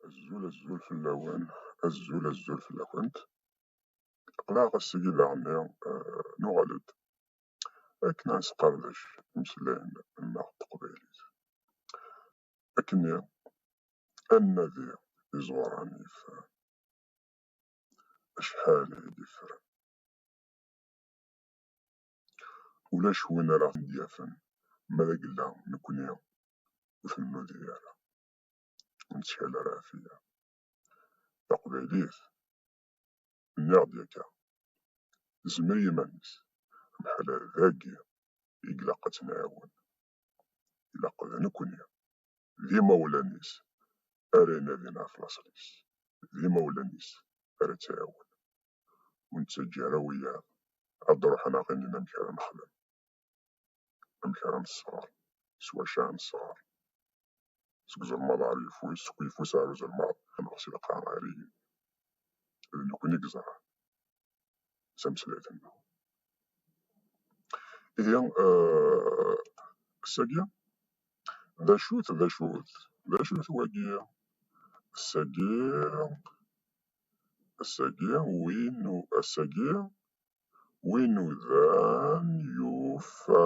azul azul fell-awen azul azul fell-akent qleɛ ass-agi daɣenni eh, nuɣal-d akken ad nesqerdec imeslayen-nneɣ n teqbaylit akkenni ad nnadi iẓuran yeffren. Acḥal i d-iffren. Ulac win ara ten-d-yafen ma d agella nekkni ur ten-nudi ara, ur nettkal ara ɛfiya. Taqbaylit, nniɣ-d yakka, tezmer i yiman-is, amḥal dagi i ilaq ad tt-nɛiwen. ilaq d nekkni, d imawlan-is, ara inadin ɣef laṣel-is, d imawlan-is ara tt-iɛawnen. Ur nettaǧǧa ara wiyaḍ ad d-ruḥen ad ɣ-inin amek ara nexdem, amek ara nesɣer, s wacu ara nesɣer, seg uzelmaḍ ɣer uyeffus, seg uyeffus ɣer uzelmaḍ, neɣ si lqaɛa ɣer igenni. D nekkni i yeẓran. sem süreden. Ihi ssagi d acu-t d acu-t d acu-t wagi ssagi ssagi win ssagi win udan yufa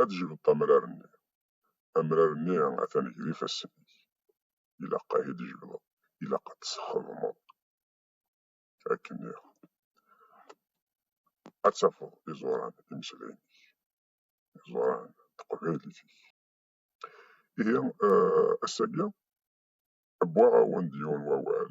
ad d-jbeḍ amrar-nni. Amrar-nni atan gar ifassen-ik. Ilaq ad t-id-jebdeḍ, ilaq ad t-txedmeḍ. Akken iɣ. Ad tafeḍ iẓuran imeslayen-ik, iẓuran n teqbaylit-ik. Ihi ass-agi, wwiɣ-awen-d yiwen wawal.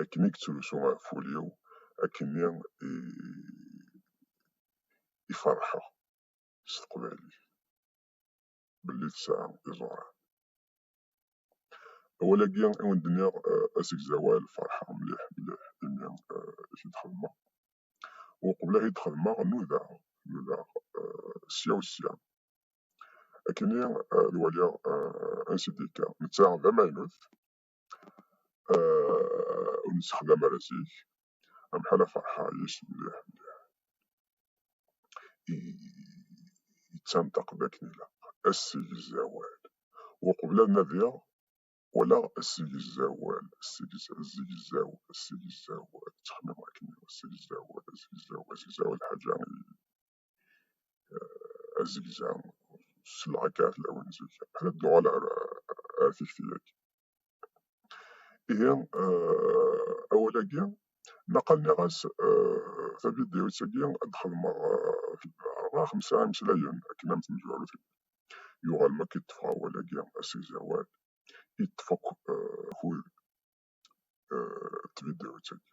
akken i yettrusu ɣef wul-iw, akken i iferḥeɣ s teqbaylit belli tesɛa iẓuran. Awal-agi i wen-d-nniɣ asegzawal ferḥeɣ mliḥ mliḥ imi i t-id-xedmeɣ. Uqbel ad t-id-xedmeɣ nudaɣ nudaɣ sya u sya akken i ad waliɣ ansi d-yekka. Netta d amaynut آه، ur nessexdam ara zik am ḥala ferḥeɣ yis mliḥ mliḥ yettanṭaq d akken ilaq assegzawal uqbel ad nadiɣ walaɣ assegzawal assegzaw assegzawal ttxemmimeɣ akken assegzawal assegzaw assegzaw lḥaǧa azegzaw s lɛekkat lawan zik ad d-nuɣal ar ar tikti-agi. Ihi awal-agi naqal nniɣ-as tavidyut-agi ad d-xedmeɣ rbeɛ xemsa imeslayen akken am temezwarut yuɣal makk i ṭṭfeɣ awal-agi asegzawal i ṭṭef akk akud n tvidyut-agi.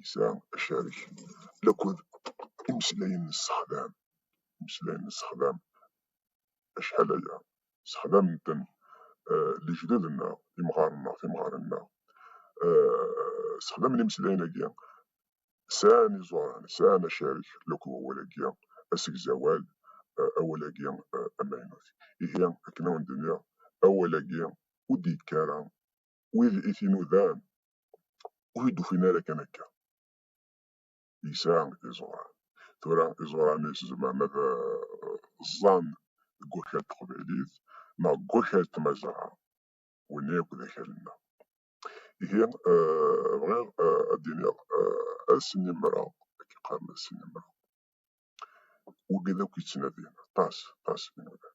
yesɛa acarek laked imeslayen n ssexdam, imeslayen n ssexdam acḥal aya sexdamen-ten lejdud-nneɣ, imɣaren-nneɣ, timɣarin-nneɣ, sexdamen imeslayen-agi, sɛan iẓuran, sɛan acarek laked wawal-agi asegzawal, awal-agi amaynut. Ihi akken awen-d-nniɣ, awal-agi ur d-yekki ara wid i t-inudan ur d-ufin ara kan akka yesɛa iẓuran tura iẓuran-is zemren ad ẓẓan deg wakal n teqbaylit neɣ deg wakal n tmazɣa win akk d akal-nneɣ ihi bɣiɣ ad d-iniɣ asinimra akka qqaren asinimra wigi d akk yettnadin aṭas aṭas inudan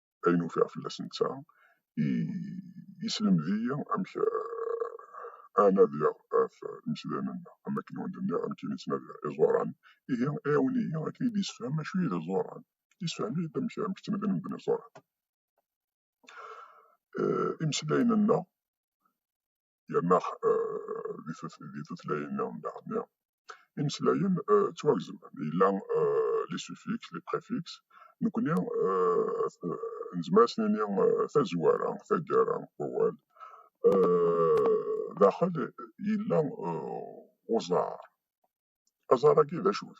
ayen ufiɣ fell-as netta i yeslemd-iyi amek a nadiɣ ɣef imesdanen-nneɣ am wakken i wen-d-nniɣ amek i nettnadi iẓuran ihi iɛawen-iyi akken i d-yessefhem acu i d iẓuran yessefhem-iyi-d amek amek ttnadin medden iẓuran imeslayen-nneɣ yerna di tutlayin-a daɣen imeslayen ttwagezmen, yella les suffixes, les préfixes, nekkni nezmer ad s-nini tazwara, taggara n wawal, daxel yella uẓar, aẓar-agi d acu-t?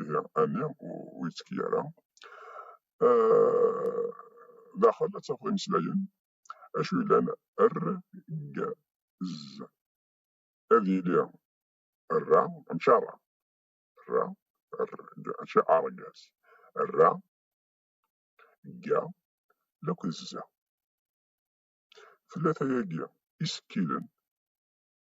ihi ami ur yettki ara. Daxel ad tafeḍ imeslayen acu yellan rg z ad yili ra mačči ara ra rg mačči argaz ra ga lakk d za. Tlata-agi isekkilen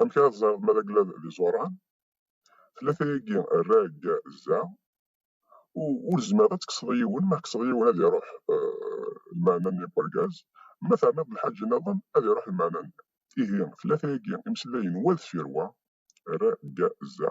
Amek ara tẓereḍ ma d aglad d iẓuran? Tlata-agi rag zza, ur zmireḍ ad tekkseḍ yiwen, ma tekkseḍ yiwen ad iruḥ lmeɛna-nni n urgaz, ma terniḍ-d lḥaǧ nniḍen ad iruḥ lmeɛna-nni. Ihi tlata-agi imeslayen wa deffir wa, rag zza,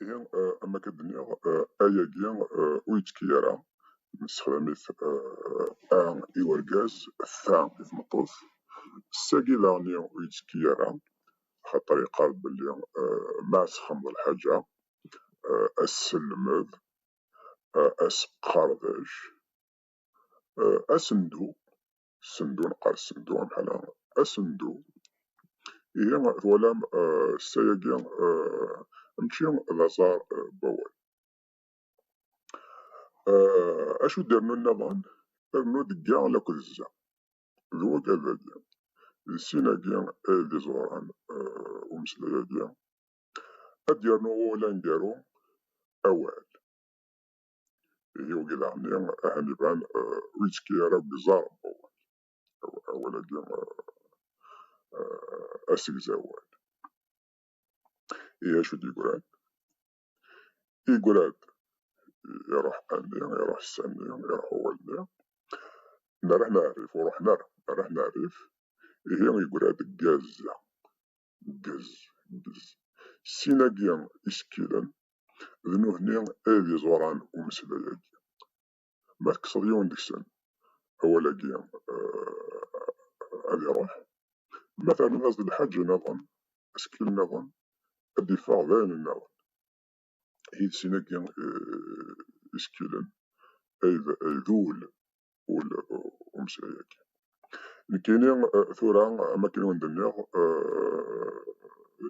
Ihi ama k-d-nniɣ ayagi ur yettki ara, nessexdam-it a i urgaz, ta i tmeṭṭut. Sagi daɣenni ur yettki ara, axaṭer yeqqar-d belli ma ad texxameḍ lḥaǧa, as-selmed, as-qerdec, as-ndu, sendu neqqar sendu amḥala asendu ihi twalam eh, ssayagi eh, mčči d aẓar eh, n wawal acu d-irnu nniḍen rnu degga lakud zza d wakadagi d sin-agi d iẓuran umeslay-agi ad d-yernu wawal aneggaru awal ihi wigi daɣen ahan iban ur yettekki ara deg iẓar awal-agi asegzawal. Ihi acu d-yegran? Yegra-d iruḥ anni, iruḥ sanni, iruḥ awal-nni, nerreḥ neɛrif, ur ruḥen ara, nerreḥ neɛrif, ihi yegra-d deg Gazza. deg sin-agi isekkilen, d nutni ay d iẓuran n umeslay-agi. Ma tekkseḍ yiwen deg-sen, awal-agi ad iruḥ, ma terniḍ-as-d lḥaǧa niḍen, asekkil niḍen, ad d-iffeɣ d ayen niḍen. iles-agi isekkilen ay d ul ul umeslay-agi. Nekkini tura am akken i wen-d-nniɣ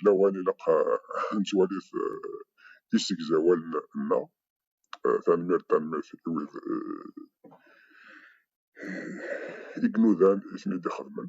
lawan ilaq ad nettwali-t d isegzawalen-nneɣ. Tanemmirt tanemmirt i wid i inudan i ten-id-ixedmen.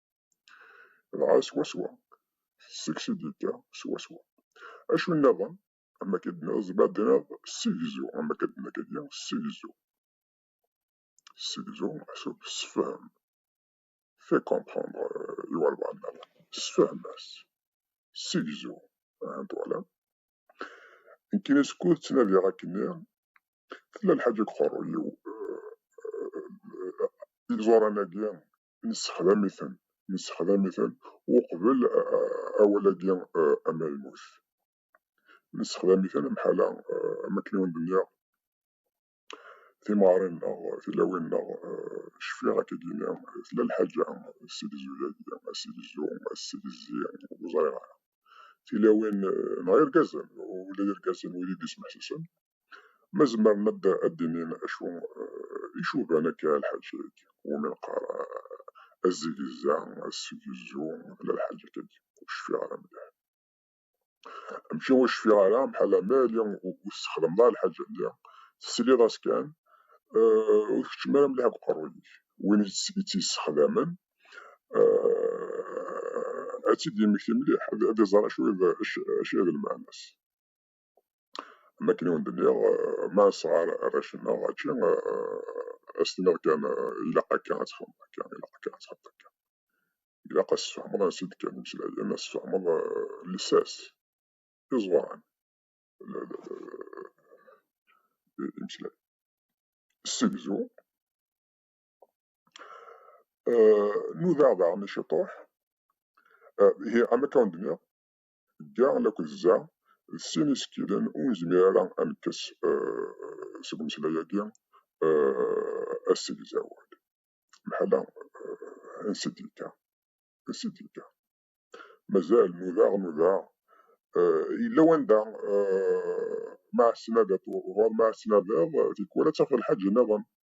dɣa swaswa tesseks-d yekka swaswa acu nniḍen am akka d-nniḍ ma d-nniḍ ssegzu am akka d-nniḍ kagi ssegzu ssegzu acu sefhem fait comprendre i walbaɛḍ nniḍen sefhem-as ssegzu ahan twalam nekkini skud ttnadiɣ akkenni tella lḥaǧa deg uqerruy-iw iẓuran-agi nessexdam-iten nessexdam-iten uqbel awal-agi amalmut nessexdam-iten amḥala am akken i wen-d-nniɣ timaɣrin-nneɣ tilawin-nneɣ cfiɣ akka d-yenniɣ tella lḥaǧa sidi zuyagi asidi zu asidi zi ur ẓriɣ ara tilawin neɣ irgazen ula d irgazen wid i d-ismeḥsisen ما زمرن ad d-inin acu icuban akka lḥaǧa-agi umi neqqar azegza, assegzu, tella lḥaǧa akka agi ur cfiɣ ara mliḥ. Mačči ur cfiɣ ara, mḥalla ma yali ur tessexdameḍ ara lḥaǧa-nni, tesliḍ-as kan, ur tkeččem ara mliḥ deg uqerruy-ik. Win i tt-yessexdamen ad tt-id-yemmekti mliḥ, ad iẓer acu i d lmeɛna-s. am wakken i wen-d-nniɣ ma nesɣar arrac-nneɣ ačči ad s-tiniḍ kan ilaq akka ad txedmeḍ akka, ilaq akka ad txedmeḍ akka. Ilaq ad s-tfehmeḍ ansi i d-kkan imeslayen, ad s-tfehmeḍ llsas, iẓuran, imeslayen. Ssegzu, nudaɣ daɣen i ciṭuḥ, ihi am akka wen-d-nniɣ dda laked zza d sin isekkilen ur nezmir ara ad nekkes seg umeslay-agi asegzawal. Meḥala ansi d-yekka? Ansi d-yekka? Mazal nudaɣ nudaɣ yella wanda ma as-tnadiḍ ɣur ma as-tnadiḍ tikwal ad tafeḍ lḥaǧ-nniḍen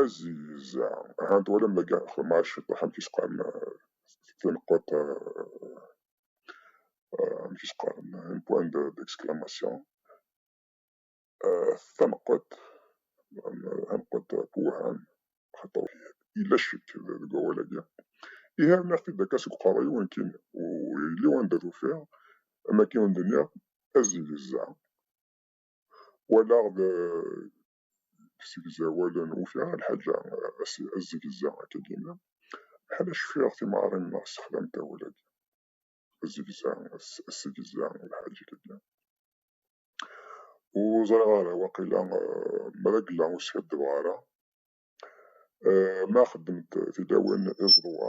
Aziza, aha twalam dagi xdem-as ciṭuḥ amek i s-qqaren tineqquṭ amek i s-qqaren un point d'exclamation taneqquṭ taneqquṭ tewhem xaṭer yella ccek deg wawal-agi ihi rniɣ-t-id akka seg uqerru-iw akin ur yelli wanda tufiɣ am akin ur d-nniɣ aziza walaɣ segzawal n uwta lḥaǧa azegza akka d-yenna bḥal acfiɣ timeɣrin neɣ sexlant awal-agi azegza assegza lḥaǧa kagi ur ẓriɣ ara waqila mragla ur skaddebeɣ ara ma xeddment tilawin iẓeḍwa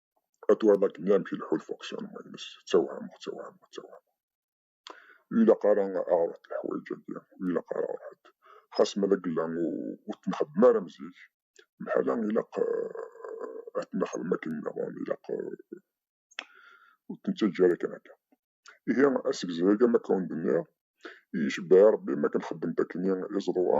atuɣal akken d amek ileḥḥu lfuksiyun-nnes, ttawhameɣ, ttawhameɣ, ttawhameɣ. Ur ilaq ara aɣ-reḍ leḥwayeǧ-agi, ur ilaq ara ɣer ḥedd. Xas ma d agella ur t-nexdem ara am zik, mḥala ilaq ad t-nexdem akken nniḍen, ilaq ur t-nettaǧǧa ara kan akka. Ihi asegzay-agi am akka ur d-nniɣ, icebbeḥ i Rebbi mi akken xeddment akken i iẓru-a.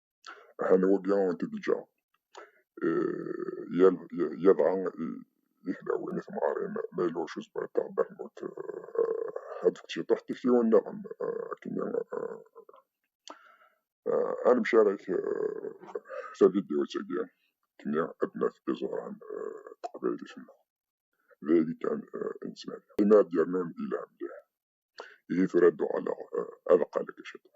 ḥal wagi i t-id-ǧǧa yadɣa i tlawin i temɣarin ma yella ur cuzba iṭṭeɛ bermut ad fekk ciṭuḥ tiktiwin nniḍen akken anmci ara k tavidyutt-agi akken ad naf iẓuran taqbaylit-nneɣ d ayagi kan i nettnadi imi ad d-yernun di lɛemliḥ ihi tura ad d-uɣaleɣ ad qqaleɣ ciṭuḥ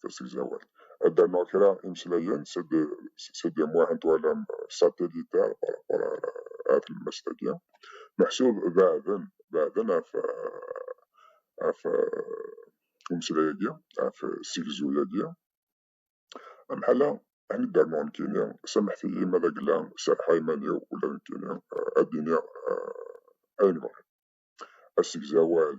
tirti deg usegzawal. Adano kra imeslayen seg seg Muḥend twalam satellitaire par rapport ar ar tlemmast-agi. Meḥsub beɛden beɛden ɣef ɣef umeslay-agi, ɣef ssegzu-agi. Amḥala ad d-rnuɣ nekkini, samḥet-iyi ma d agla serrḥeɣ iman-iw ula d nekkini ad d-iniɣ ayen bɣiɣ. Asegzawal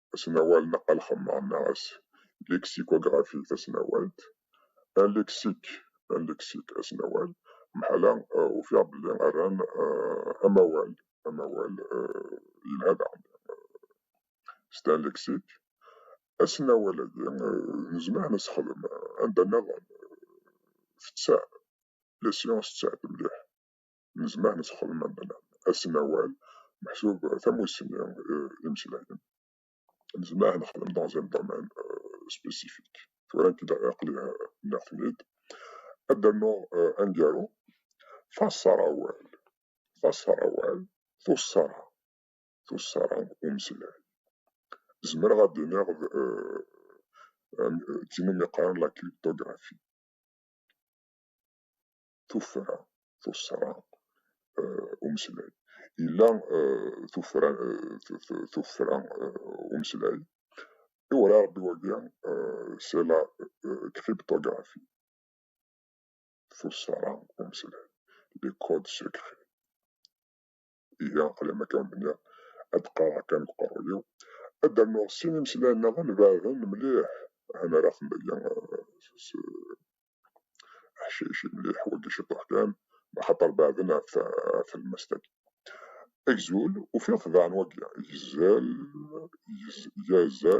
asnawal neɣ alxemmar neɣ as lexicography tasnawalt alexik alexik asnawal meḥala ufiɣ belli rran amawal amawal yelha daɣen c'est un lexique asnawal-agi nezmer ad nesxdem anda nniḍen tettaɛ la science tettaɛet mliḥ yezmer ad texdem am bla asnawal meḥsub tamussni imslayen nezmer ad nexdem dans un domaine spécifique tura nekk aqli nniɣ-ten-id ad d-rnuɣ aneggaru taṣarawal taṣarawal tuṣṣara tuṣṣara umeslay zemreɣ ad d-iniɣ d tin umi qqaren la cryptographie tuffra tuṣṣra umeslay yella tuffra tuffra umeslay iwala rebbi wagi c'est la cryptographie tuṣṣra umeslay les codes secrets ihi alama kan bniɣ ad qqareɣ kan deg uqerruy-iw, ad d-rnuɣ sin imeslayen-nniḍen ibeɛden mliḥ, han ara ten-aya s aḥcic mliḥ, wagi ciṭuḥ kan, axaṭer beɛden ɣef tlemmast-agi. Agzul, ufiɣ tebɛen wagi, igzal, igz-yaza,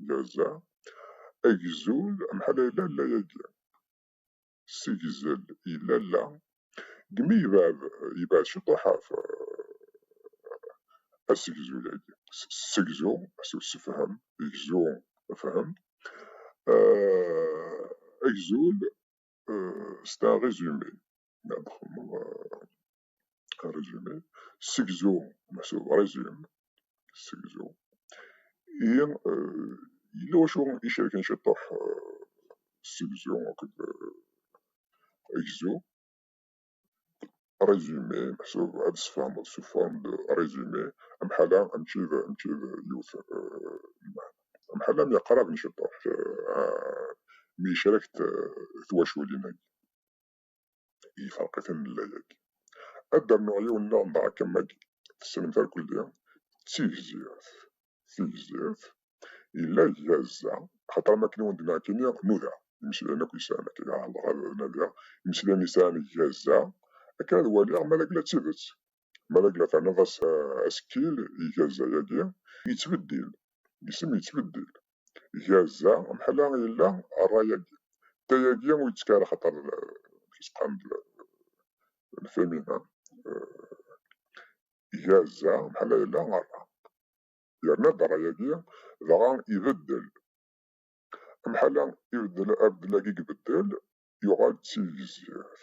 yaza, agzul, amḥal ay yella, yella yagi. ssegzel i lalla deg mi yebɛed yebɛed ciṭuḥ ɣef assegzu yagi ssegzu asuw ssefhem gzu fhem agzul c'est un résumé ma txedmeḍ un résumé, segzu meḥsub résumé, segzu, i yella wacu icerken ciṭuḥ segzu akked agzu, résumé meḥsub ad tesfehmeḍ sous forme de résumé, amḥala mačči d mačči d yiwet lmeḥna, amḥala mi qrab n ciṭuḥ mi yecrek-t twaculin-agi. ifeṛq-iten llayagi. Ad d-rnuɣ yiwen daɣen d aḥkam-agi, tessnem tarkeldi d tigzirt. Tigzirt yella iga zza, axaṭer am wakken i wen-d-nniɣ nekkini nuda imeslayen akk yesɛan akka, ɛerḍeɣ ad nadiɣ imeslayen yesɛan iga zza akken ad waliɣ ma d akken d tidet. Ma d agla terniḍ-as asekkil i gazza-agi, yettbeddil, isem yettbeddil. Gazza, mḥala yella rray-agi. Tayagi ur yettekki ara axaṭer tseqqam-d lfemi. Gazza, mḥala yella rra. Yerna-d rray-agi, dɣa ibeddel. Mḥala ibeddel, abeddel-agi ibeddel, yuɣal d tigzirt.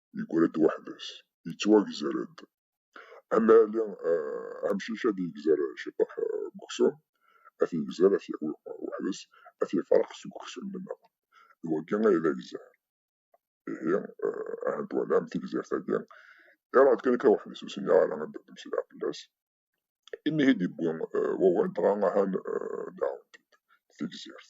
yegra-d weḥd-s, yettwagzer-d. Am Ali Ɛemcic ad yegzer ciṭuḥ n uksum, ad t-yegzer, ad t-yawi weḥd-s, ad t-yefreq seg uksum nneɣ. D wagi ay d agzer. Ihi, ahat twalam tigzirt-agi, iruḥ-d kan akka weḥd-s, ur sinin ara ad d-mmeslayeɣ fell-as. Imi ay d-yewwi wawal, dɣa ahan daɣen tigzirt.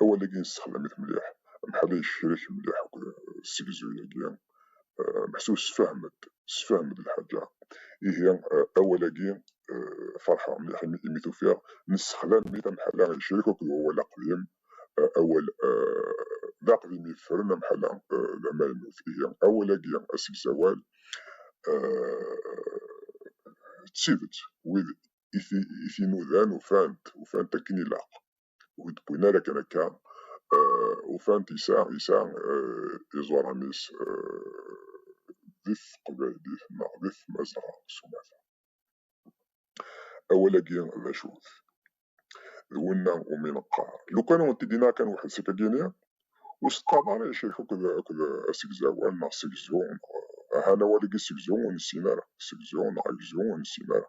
awal-agi nessexdam-it mliḥ, amḥal-a yecrek mliḥ akked ssegzu-yagi, meḥsub ssefhem-d, ssefhem-d lḥaǧa, ihi awal-agi ferḥeɣ mliḥ imi t-ufiɣ, nessexdam-it, amḥal-a yecrek akked wawal aqdim, awal d aqdim yeffren, amḥal-a d amaynut, ihi awal-agi asegzawal d tidet wid i t-inudan ufan-t, ufan-t akken ilaq. ur d-wwin ara akken akka ufan-t yesɛa yesɛa iẓuran-is di teqbaylit neɣ di tmazɣa s umata. Awal-agi d acu-t? D winna umi neqqar lukan ur t-id-yenna kan weḥd-s akka gini, ur s-teqqareḍ ara icrik akked akked asegzawal neɣ segzu neɣ ahan awal-agi segzu ur nessin ara, segzu neɣ agzu ur nessin ara.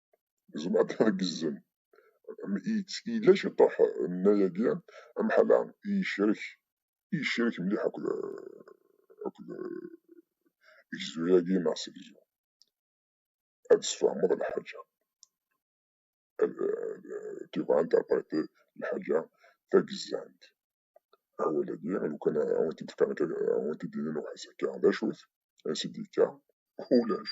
gzem ad tgezzem yella ciṭuḥ nna-yagi amḥala yecrek yecrek mliḥ akked akked gzu-yagi neɣ segzu ad tesfehmeḍ lḥaǧa tu vas interpréter lḥaǧa tagezzant awal-agi lukan awent-d-fkan awent-d-inin uḥas akka d acu-t ansi d-yekka ulac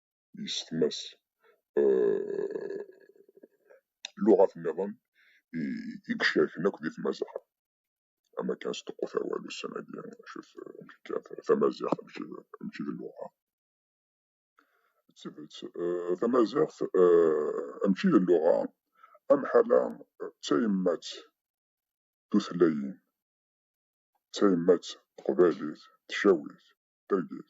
yessetma-s luɣat nniḍen i icerken akk di tmaziɣt. Ama kan sṭeqqut awal ussan-agi, acu-t amek kan tamaziɣt amek i d luɣa. D tidet, tamaziɣt amek i d luɣa amḥala d tayemmat tutlayin, d tayemmat teqbaylit, tcawit, tergit.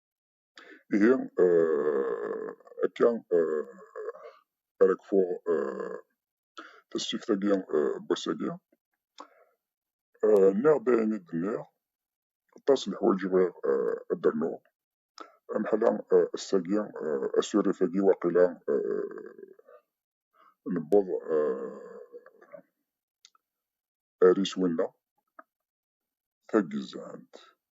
ihi akka ara kfuɣ tasfift-agi n wass-agi nniɣ-d ayen i d-nniɣ aṭas n leḥwayeǧ i bɣiɣ ad d-rnuɣ ameḥla ass-agi asurif-agi waqila newweḍ ar iswi-nneɣ tagezzɛant.